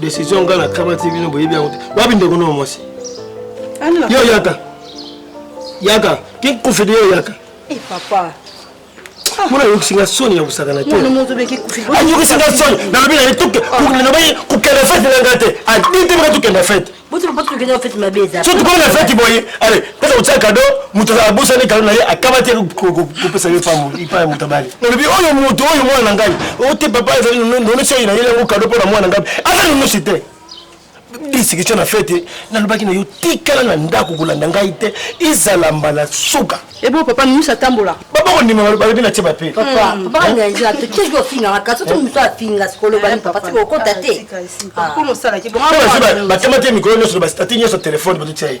decision ngai nakamati bino boyebi yango te wapi ndeko nao mwasi yo yaka yaka kinkufidi yo yaka eh, papa mona ayokisi nga soni ya kosakana te ayokisi nga soni nalobi na ye tuke nalobi kokenda fete na nga te adi te maka tokenda fete so tokomi na fete boye ale pesa kotia kado moto abosani kado na ye akaba te kopesa ye pamo ipa ya moto abali nalobi oyo moto oyo mwana na ngai ote papa ezali nonesi oyo na ye yango kado mpo na mwana na ngai aza nonosi te lisikisio na fete nalobaki na yo tikala na ndako kolanda ngai te ezala mbala suka ebo papa mimisi atambola baba kondima balobi na tie bape batema te mikolo nyonso na bastati nyonso telefone bazotia ye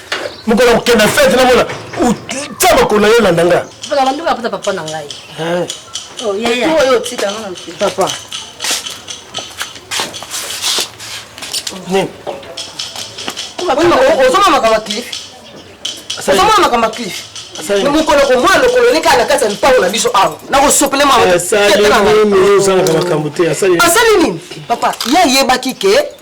mokolo ya kokenda fete namona otya makolo yo landa nga papa papa na ngai eh. oh, oyo otika nga papa nini ozoma makambo ya clif ozoma makambo ya clif mokolo komona lokolo eleki na kati ya lopango na biso awa nakosopele maasali nini papa ye ayebaki ke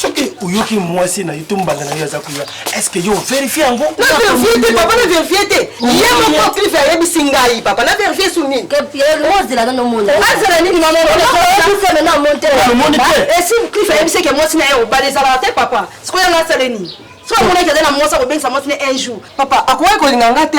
soki oyoki mwasi na yo to mbanda na yo aza koya estce yo verifie yango naverifie te papa na verifie te ye moko clife ayebisi ngai papa na verifie su nini ozela nano mona azela nini mamonomoni te esi clife ayebisi eke mwasi na ye obala ezalaka te papa sikoyo yango asale nini soki amonaki aza na mwasi akobengisa mwasi na un jour papa akoki kolinga nga te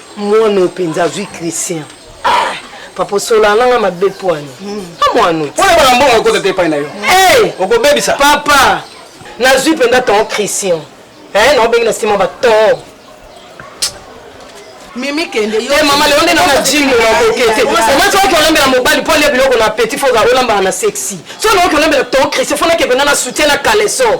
Mwana oyo mpenza azwi Christian. Ah, papa osola nanga mabe pwani. Hmm. Ah, mwana oyo. Oyo bana mbongo ekota te epai na yo. Eh! Okobebisa. Papa, nazwi mpenza ton Christian. Eh, na obengi na sima ba ton. Mimi kende yo. Eh, mama leo nde na gym na kokete. Mama soki olambela mobali pole biloko na petit faut olambela na sexy. Soki olambela ton Christian faut na kebena na soutien na caleçon.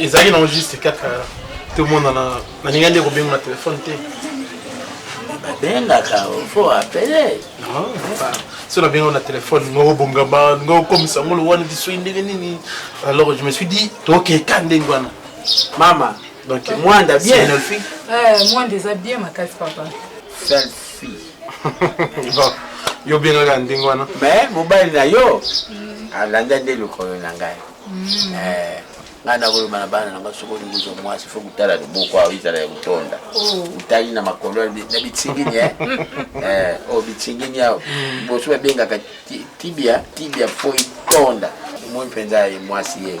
ezalaki nango juste kaka tomonana nalinga nde kobenga na telefone te babengaka fo apele so nabengao na telefone nga obongama nga okomisa ngo lowani lisoi ndenge nini alors je me suis dit tokeka ndenge wana mama Donc Mwanda bien. Selfie. Eh, Mwanda eza bien makasi papa. Selfie. bon, yo bien la ndenge wana. Mais mobali na yo mm. alanda nde lokolo na ngai. Mm. Eh. ngai nakoloba na bana na ngai soki olingi ozwa mwasi fo kotala loboko awa ezala ya kotonda otali oh. na makolo na bitingini eh? eh, o oh, bitingini awa boso babengaka tibia tibia fo etonda omoi mpenza ye mwasi ye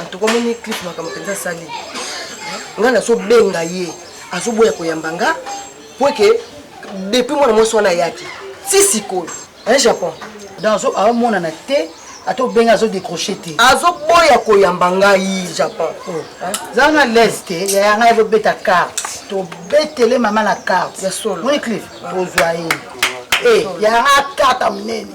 antuka omoni clip makambo mpenza asali ngai nazobenga ye azoboya koyamba nga mpo eke depuis mwana mwasi wana ayaki ti sikoyo un japon donc aomonana te ata obenga azodecroche te azoboya koyamba ngai japon oh. zala na lese te yaya ngai azobeta carte tobetele mama na carte ya solo moniclife tozwa ye eh, yaya ngai akata monene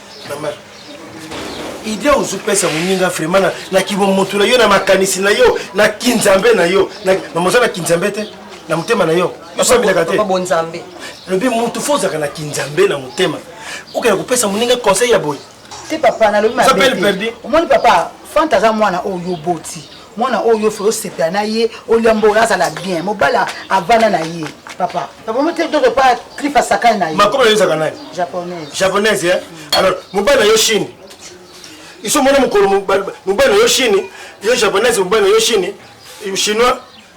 Maman, idée ozo pesa moninga vraiment na, na kibomoto na yo na makanisi na yo na kinzambe na yo na, mama oza na kinzambe te na motema na yo osambelaka te bonzambe lobi motu fo ozalaka na kinzambe na motema okenda kopesa moninga conseil ya boye te papa nalobi mabe omoni papa fanta aza mwana oyo oboti Mwana oyo faut osepela na ye olia mbola azala bien mobala avana na ye papa papa mo te dodo pa cliff asakani na ye makoma yo ezaka nani japonaise japonaise eh mm. alors mobala yo chine iso mona mokolo mobala yo chine yo japonaise mobala yo chine chinois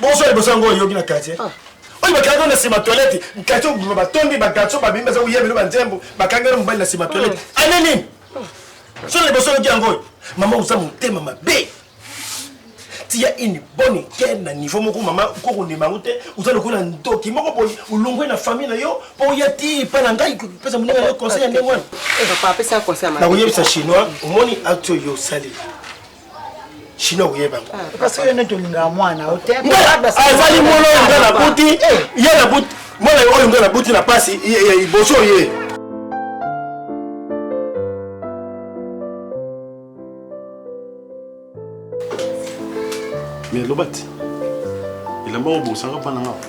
Bonsoir liboso yango oyoki na quartier ah. oyo bakangi na nsima toilette quartier obima batondi bagarçon babimi baza koyebelo banzembo bakangi na mobali na nsima toilette ah. ane nini ah. solo liboso oyoki yango oyo mama oza motema mabe tia une bonne équerre na niveau moko mama kokondima yango te oza lokola ndoki moko boye olongwe na famille na yo mpo oya ti epa na ngai pesa moninga na yo conseil ya ndenge wana nakoyebisa chinois omoni acte oyo osali chinois okoyeba yango ah, parce que nde tolingaka mwana azali mwana oyo nga nabuti eh. ye nabuti mwana oyo nga nabuti na mpasi liboso ye mais lobati elamba obosaka mpa na nga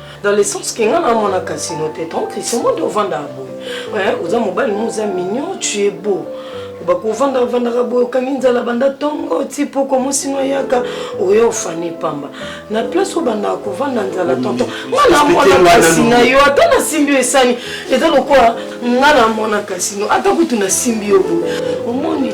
dans le sens que nga na mona casino te ton christian mondo ovandaka boye eh, oza mobali mo oza mignon tu es beau bakovanda vandaka boye okangi nzala banda ntongo ti poko mosino ayaka oya ofani pamba na place obandaka kovanda nzala tonton nga namona kasi na yo ata nasimbi yo esani eza lokola nga namona kasi no ata kutu nasimbi yo boye omoni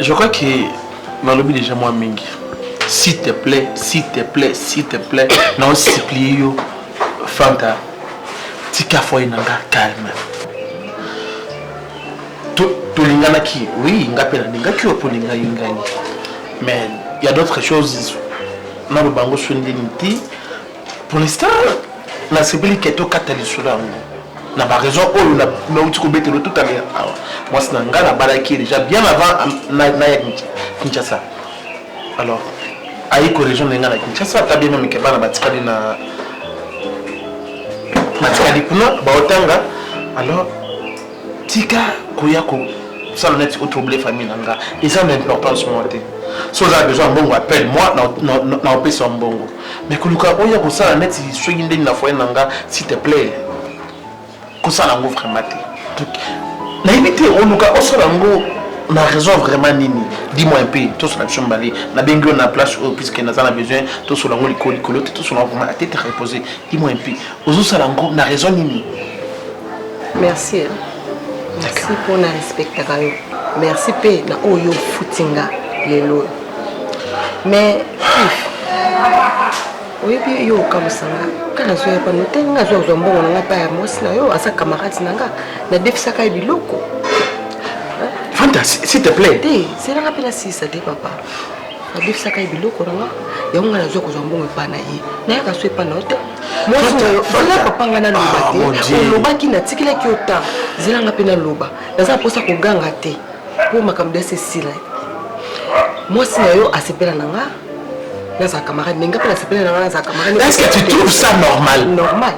Je crois que nalobi déjà mwa mingi s'il te plaît s'il te plaît s'il te plaît nao supplie yo fanta tika foye na nga calme tolinganaki oui nga mpe nalingaki yo mpo olingai ngai mais ya d'autres choses naloba yango so ndeni te Pour l'instant, nasepeli kete okata lisolo yango na baraison oyo nauti kobetelo tout aler awa mwasi na ngai nabalaki ye déjà bien avant naya kinshasa alors ayi koregion na ngai na kinshasa ata bien meme ke bana batikali na batikali kuna baotanga alors tika koya ko sala neti o trouble famille na nga eza na importance moko te so oza na besoin ya mbongo appelle moi na opesa mbongo mais koluka oya kosala neti soki ndenge na foyer na nga s'il te plaît kosala yango vraiment te nayebi te oluka osala yango na raison vraiment nini dis-moi un peu tosala biso mibale nabengi yo na place oyo puisque naza na besoin tosala yango likolo likolo te tosala yango vraiment atete repose dis-moi un peu ozosala yango na raison nini merci eh. merci mpo na respectaka yo merci mpe na oyo ofuti nga lelo oyo mais oyebi yo okamusa nga ka nazwa ya pano te nga azwa kozwa mbongo na nga mpa ya mwasi na yo aza camarade na nga nadefisaka ye biloko fanta s'il te plaît te selanga mpe nasilisa te papa babebisaka ye biloko na nga yango nga nazwa kozwa mbongo epai na ye nayaka so epai na yo te mwasianga papa nga naloba ah, te olobaki natikelaki yo ntango zelanga mpe naloba naza na mposa koganga te mpo makambo biasi esila mwasi na yo asepela na nga naza camarade mais nga mpe nasepela na nga naza camarade est ce que tu trouves ça normal normal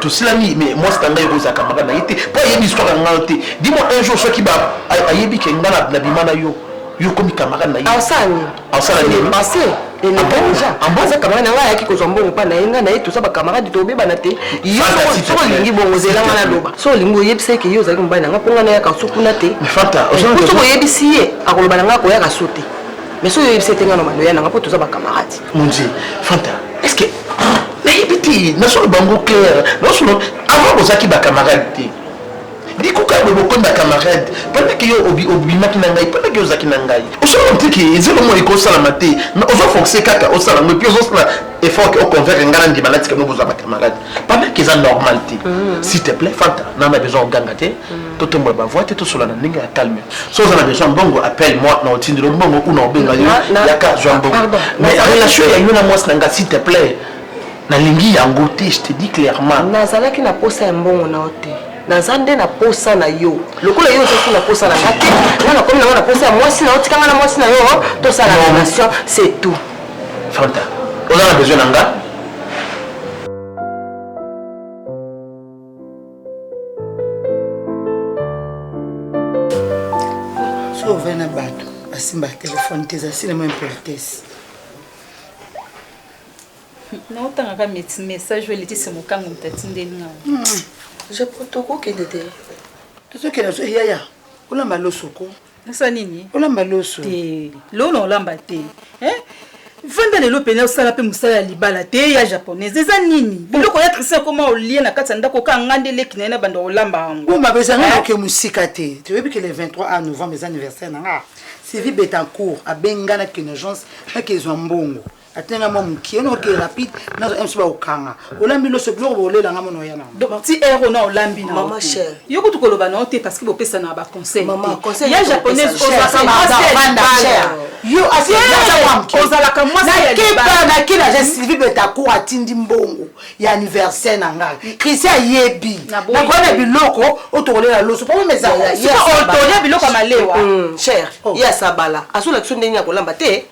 tosilami mais mwasi na ngai ekozalaka maka na ye te mpo ayebi histoire ya ngai te dimo un jour soki ayebi ke ngai nabima na yo yo okomi kamaka na ye asala nini asala nini passé aza camarade na ngai ayaki kozwa mbongo mpa na ye ngai na ye toza bacamarade tobebana te yo soki olingi bongo ozela ngai naloba soki olingi oyebisa ye ke yo ozalaki mobali na ngai mpo ngai nayaka so kuna te soki oyebisi ye akoloba na ngai akoyaka so te mais soki oyebisi ete nga na maloya nanga mpo toza bacamarade monzi fanta est ce que nayebi te nasolo bango clair nasolo avant bozalaki bacamarade te bikuka boye bokomi bacamarade pendaki yo obimaki na ngai pendaki yo ozalaki na ngai osolo ntiki ezelo moi ekosalama te ozofoxe kaka osala ngo epuis ozosala effort ke oconvaincre ngai na ndima natika no bozwa bacamarade Pendant que eza normal te. Mm. S'il te plaît, Fanta, n'a na besoin oganga te. Mm. To tombola ba voix te to sola na ndenge ya calme. So oza na besoin mbongo appelle moi na otindi lo mbongo ou na obenga yo ya ka zwa mbongo. Mais relation ya yo na mwasi na nga s'il te plaît. Nalingi yango te, je te dis clairement. Nazalaki na posa ya mbongo na ote. naza nde na posa na yo lokola yo ozaki na posa na nga te nga nakomi nango na posa ya mwasi na yo tika nga na mwasi na yo tosala relation c'est tout Fanta, oza na besoin na nga? Soki ovai na bato basimba telefone te ezali sinema impolitesse. naotangaka message oyo letisi mokango moto atindeli nga japo tokokende te tozokende so yaya olamba losoko Nasa nini? Olamba loso. Te. Lona olamba te. Hein? Vanda lelo pena osala pe musala ya libala te ya japonaise eza nini biloko ya christian koma olie na kati ya ndako oka nga nde leki na ye na banda olamba yango o mabe ezanga naoke mosika te toyebi ke le 23 a novembre eza anniversaire na nga sylvie betancourt abenga na kinogence nake ezwa mbongo atina nga mwa mokie ono oke rapide nazo mso bakokanga olambi loso biloko bolela nga mona oya nango ti ero na olambi na mama chere yo kutu koloba na yo te parce que bopesa na ba conseil mama conseil ya japonaise ozalaka mwasi ya libala yo ozalaka mwasi ya libala na kila je Sylvie Betacourt atindi mbongo ya anniversaire na ngai mm. Christian ayebi nakona biloko otokolela loso po meza otolia biloko ya malewa mm, chere oh. ya sabala azolakisa ndenge ya kolamba te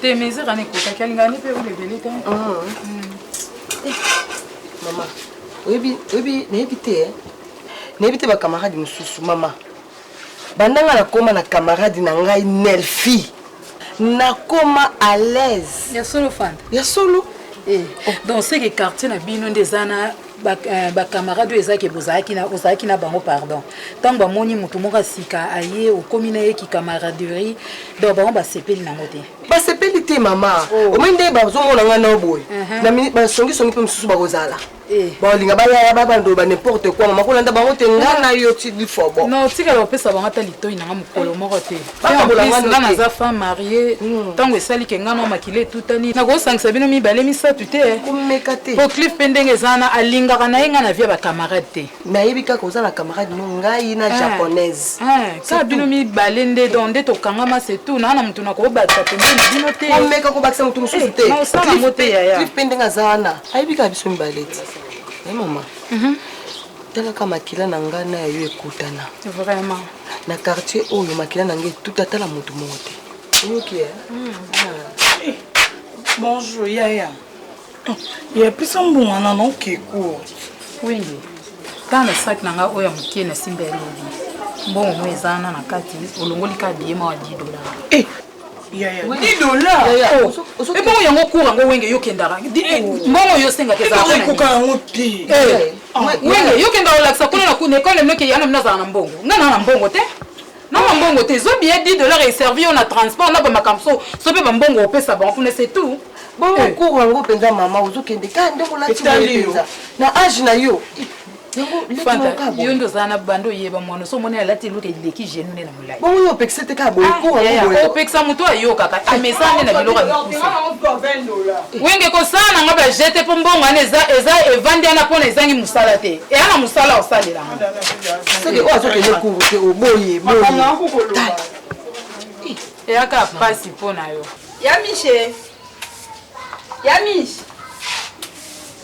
Te meze kana ekokaki alingani mpe huile ebele te. Ah. Hmm. Eh, mama, oyebi oyebi nayebi te eh. nayebi te bakamarade mosusu mama banda ngai nakoma na kamarade na ngai nelfi nakoma à l'aise ya solo fanda ya solo eh, oh. donc seke quartier na bino nde eza na ba, uh, ba camarade oyo ezalaki bozalaki na ozalaki na bango pardon ntango bamoni moto moko ya sika aye okomi na ye kicamaraderie donc bango basepeli nango te basepeli te mama oh. omoi nde bazomona ngai nao boye uh -huh. na basongisongi mpe mosusu bakozala eh. balinga bayaya babando ba n'importe quoi mama kolanda bango te ngai na yo tidifobo non tikala opesa bango ata litoi nanga mokolo moko te nga naza femme marie ntango hmm. esali ke nga na makila etutani nakosangisa bino mibale misato te eh. komeka te po clif mpe ndenge eza wana alingaka na ye nga na vie ya bacamarade te nayebi kaka oza na camarade no ngai na eh. japonaise eh. kaka bino mibale nde don nde tokangama se tout naa na motu nakobatisa pembeni na bino te komeka kobakisa motu mosusu te naosala yango te yaya clif mpe ndenge aza wana ayebi kaka biso mibale te mama mhm. talaka makila na ngai na yayo ekutana vraiment na quartier oyo makila na ngai etuta ata na motu moko te oyoki eh? hmm, eh, bonjour yaya ya pesa mbongo na nokeko wende ntango na saki na ngai oyo ya moke nasimba elobi mbongo mo eza na na kati olongoli ka biye mawa 10 dollar eh, 10 dollars ebongo yango cour yango wenge yo kendaka mbongo yo osengaka ezaekoka yango te wenge yo kendaka olakisa kuna na kuna ekole noke yana mina azala na mbongo nga naa na mbongo te nanga mbongo te zwa billet 10 dollars eservi yo na transport na bamakambo so so mpe bambongo opesa bango kuna se tout bongo cour yango mpenza mama ozokende ka ndenge olati boye mpenza na age na yo yo nde ozala na banda oyeba mwana so omoni alati eluka eleki genu nde na molai bongo yo opekisa te kaka boyeopekisa ah, moto ayokaka amesana nde na biloko ya mikusa wenge kosala na nga bajete mpo mbongo wana eza evandi wana mpona ezangi mosala te eya na mosala osalelanga soki oyo azokende kuru te oboye eyaka mpasi mpo na yo ya mishe ya mishe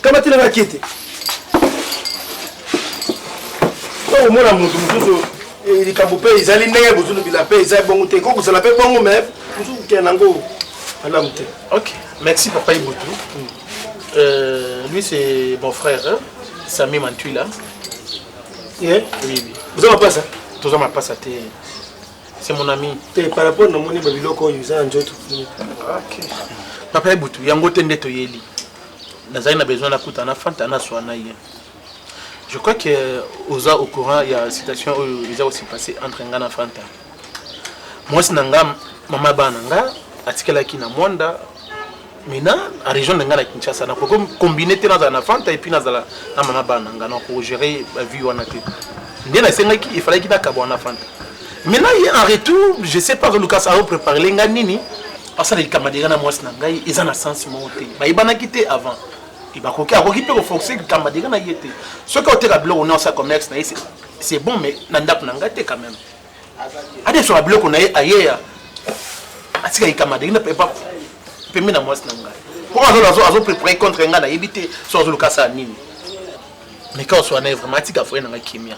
Kamatela nga kiti. Oyo mona mutu mususu eh, likambo mpe ezali ndenge bozulu bila mpe eza bongo te ekoki kozala mpe bongo me mosusu kokende nango malamu te ok merci papa ibutu hmm. euh, lui c'est mon frère hein? sami mantuila yeah. oui, oui. boza mapasa toza mapasa te c'est mon ami te par rapport na moni babiloko oyo eza na nzoto ok papa ibutu yango te nde toyeli nazali na besoin nakutana na fanta naswa na ye je crois que oza au courant ya situation oyo eza kosi passe entre nga na fanta mwasi na nga mama bana nga atikelaki na mwanda mina a région na nga na kinshasa nakoki kombine te nazala na fanta epuis nazala na mama bana nga nakogere bavie wana te nde nasengaki efalaki nakabwana fanta maintenant ye en retour je sais pas azoluka aopréparele nga nini asala likama deja na mwasi na ngai eza na sens moko te bayebanaki te avant bakoki akoki mpe koforce likama deja na ye te soki oteka biloko na osala commerce na ye c'est bon mais na ndako na ngai te quand même adesoka biloko na ye ayeya atika likama deja pembe na mwasi na ngai mpo azolo azoprepare contre ngai nayebi te so azoluka asala nini meka oswana ye vraiment atika foye na ngai kimia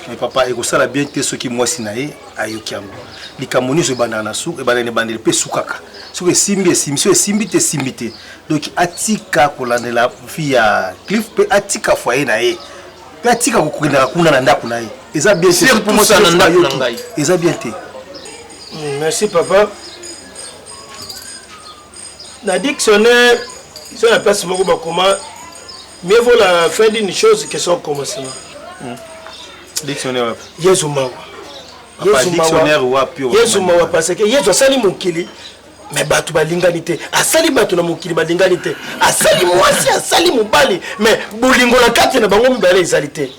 mais papa ekosala bien te soki mwasi na ye ayoki yango likambo nyonso ebandaka na suka ebandaka na ebandeli mpe esukaka soki esimbi esimbi soki esimbi te esimbi te donc atika kolandela vi ya cliff mpe atika foye na ye mpe atika kokendaka kuna na ndako na ye eza bien te eza bien te merci papa Na dictionnaire, c'est la place moko bakoma mieux vaut la fin d'une chose que son commencement. Hmm. Dictionnaire wapi? Yesu mawa. Yesu dictionnaire wapi? Yesu mawa parce que Yesu asali mokili me bato balingani te asali bato na mokili balingani te asali mwasi asali mobali me bolingo na kati na bango mibale ezali te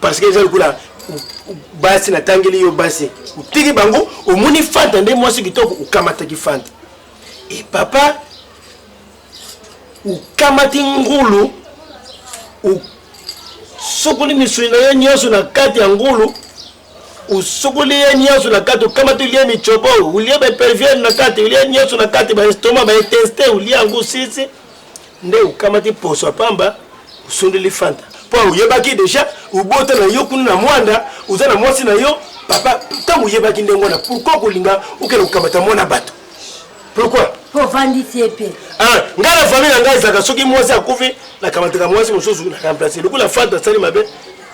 parce que eza lokola basi natangeli yo basi otiki bango omoni fanta nde mwasi kitoko okamataki fanta e papa okamati ngulu osokoli misuni na yo nyonso na kati ya ngulu usukuli ye nyonso na kati okamati olie micobo olie baperviere na kati olie nyonso na kati baestoma baeteste olie yango sisi nde okamati poso ya pamba osundeli fanta mpo oyebaki deja obota na yo kuna na mwanda oza na mwasi na yo papa ntango oyebaki ndenge wana pourkui kolinga okende kokamata mwana bato pourkui ovandisi ye mpe ah, ngai na famille na ngai ezalaka soki mwasi akufi nakamataka mwasi mosusu na remplace lokola fanta asali mabe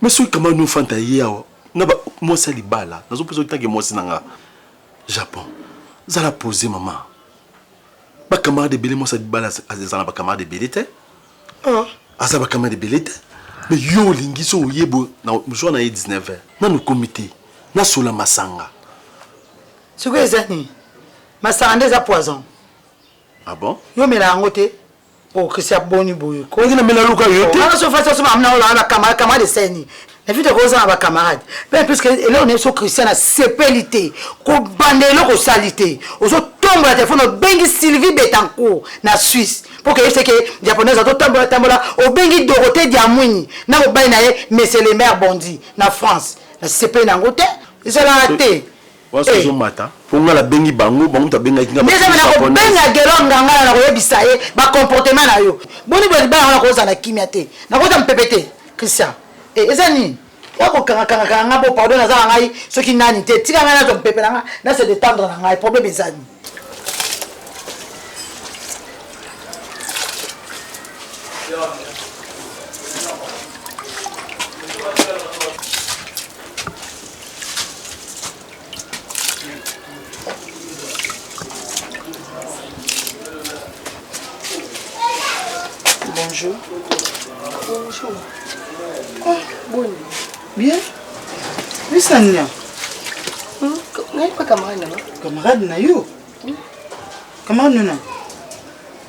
Mais soki kama no fanta ye awa na ba mwasi ya libala nazo pesa otanke mwasi na nga Japon zala pose mama ba camarade ebele mwasi ya libala azala ba camarade ebele te ah aza ba camarade ebele te mais yo olingi so oyebo na jour na ye 19 ans nanu komi te na sola masanga sikoyo eza nini masanga nde eza poison ah bon yo mela yango te Oh, Christian boni boye ko. Ndenge na mela luka yo te. Wana so fasi so mamna ola ba camarade camarade seni. Na vite ko za ba camarade. Mais plus que eloko ne so Christian na sepeli te. Ko bande eloko sali te. Ozo tombo la téléphone obengi Sylvie Betancourt na Suisse. Pour que c'est que japonaise ato tambola tambola obengi Dorothée Diamwini na mobali na ye Monsieur le maire Bondi na France. Na sepeli na ngote. Ezala te. Waso ezo mata po nga na bengi bango bango mutu abengaki nga ndeza na kobenga gelo ngangala na koyebisa ye ba comportement na yo boni boye libala yango nakozala na kimia te nakozala mpepe te Christian eh, eza nini ya kokanga kanga kanga nga bo pardon naza na ngai soki nani te tika ngai nazwa mpepe na nga na se detendre na ngai problème eza nini Bonjour. Bonjour. Ah, bon. Bien. Oui, Sania. Hmm? Nani pa camarade na yo? Camarade na yo? Hmm? Camarade na yo?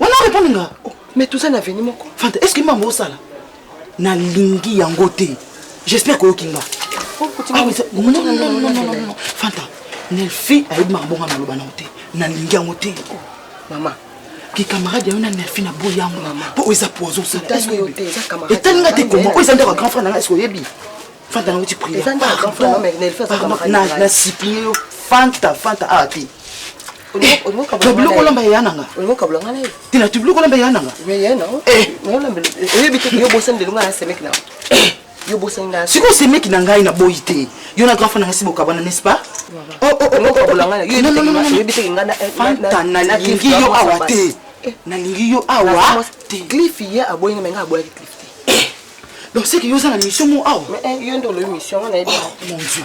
wana repondre nga mais toza na veni moko fanta est ce que mambo osala nalingi yango te j'espère koyoki nga fanta nelfi ayebi makambo nga naloba nango te nalingi yango te mama kikamarade yayo na nelfi na boyi yango mpo oyo eza poison etali nga te koma oyo eza ndako ya grand frère na nga eske oyebi fanta nango ti priere na supplie yo fanta fanta awa te tobili kolamba ya nanga tina tobili kolamba ya nanga sikoyo semeki na ngai naboyi te yo na grafa nanga si bokabana n'est-ce pas nalingi yo awa te nalingi yo awa te donc seke yo oza na mission mo awa mon dieu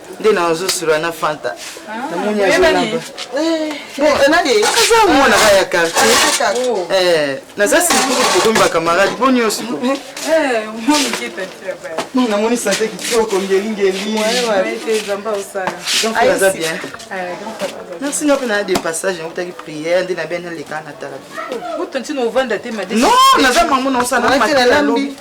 nde nazosula na fanta namoni azonaba aza mwana ka ya quartier naza sikulu kokomi bakamarade bo nyonso namoni sante kitoko ngelingeli aza bien merci nga mpe na de passage nakutaki prière nde na bia naleka na tala non naza mango naosanaa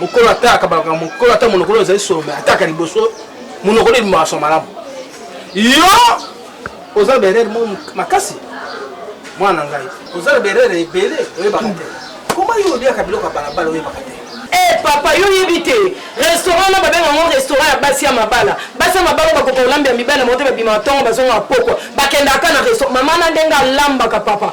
mokolo ata akabalaka mokolo ata monokolo ezali solo me ataka liboso monokolo ebimaka so malamu yo oza berere mo makasi mwana na ngai oza na berere ebele oyebaka te koma yo olyaka biloko ya balabala oyebaka te Hey, eh, papa yo yebi te restaurant wana babenga yango restaurant ya basi ya mabala basi ya mabala bakoka kolambela mibali na moto babima ntongo bazonga pokwa bakendaka na restaurant mama na ndenge alambaka papa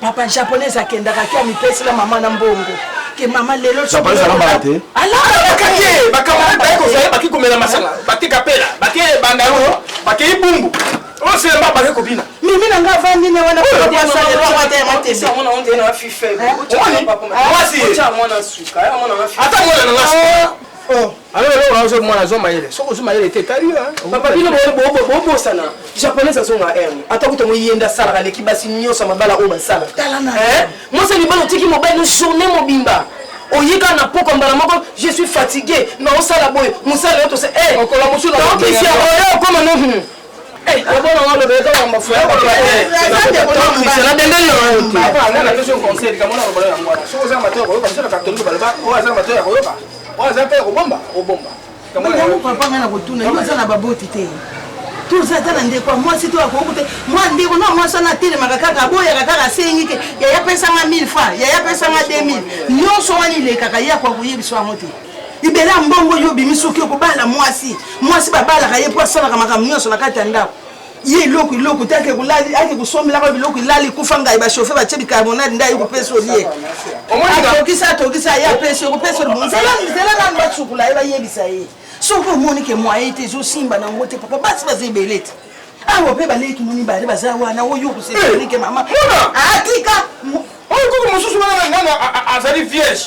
papa japonais akendaka ke amipesi na mama na mbongo ke mama lelo japonais alambaka te alambaka te bakamarade baye kozala baki komela masanga bake kapela bake bandalo bakei bumbu oselema bake kobina mimi na nga avandi ne wana ata mwana nanga Alors là, on a besoin de moi, la zone maïle. Sauf que zone maïle était calé, hein. Papa, bino, bon, bon, bon, bon, sana. Japonais, à zone à M. Attends, vous t'avez yenda sala, la l'équipe, si nyo, ça m'a bala, on sala. Talana. Hein? Moi, c'est le bon outil qui m'a bala, une journée, mon bimba. oyika na poko mbala moko je suis fatigué na osala boye mosala yo tosa eh, okolamosuoyo okoma no papa ngai nakotuna yo oza na baboti te toza ata na ndeko ya mwasi to akoki te mwa ndeko na mwasi wana atelemaka kaka aboyaka kaka asengi te yaya apesanga 1000 franc yaya apesanga 2000 nyonso wana elekaka ye akoka koyebisa yango te libela mbongo yo obimi soki okobala mwasi mwasi babalaka ye mpo asalaka makambo nyonso na kati ya ndako ye eloko eloko te ake kolali ake kosombelaka biloko elali kufa ngai bachauffe batye bicarbonate nde aye kopesa olie atokisa atokisa ye apesi okopesa olimo nzela nzela nanu basukula ye bayebisa ye soki omoni ke mwaye te ezosimba nango te papa basi baza ebele te awa mpe baleki moni bale baza wana oyo koseike mama atika oyo koko mosusu wana azali vierge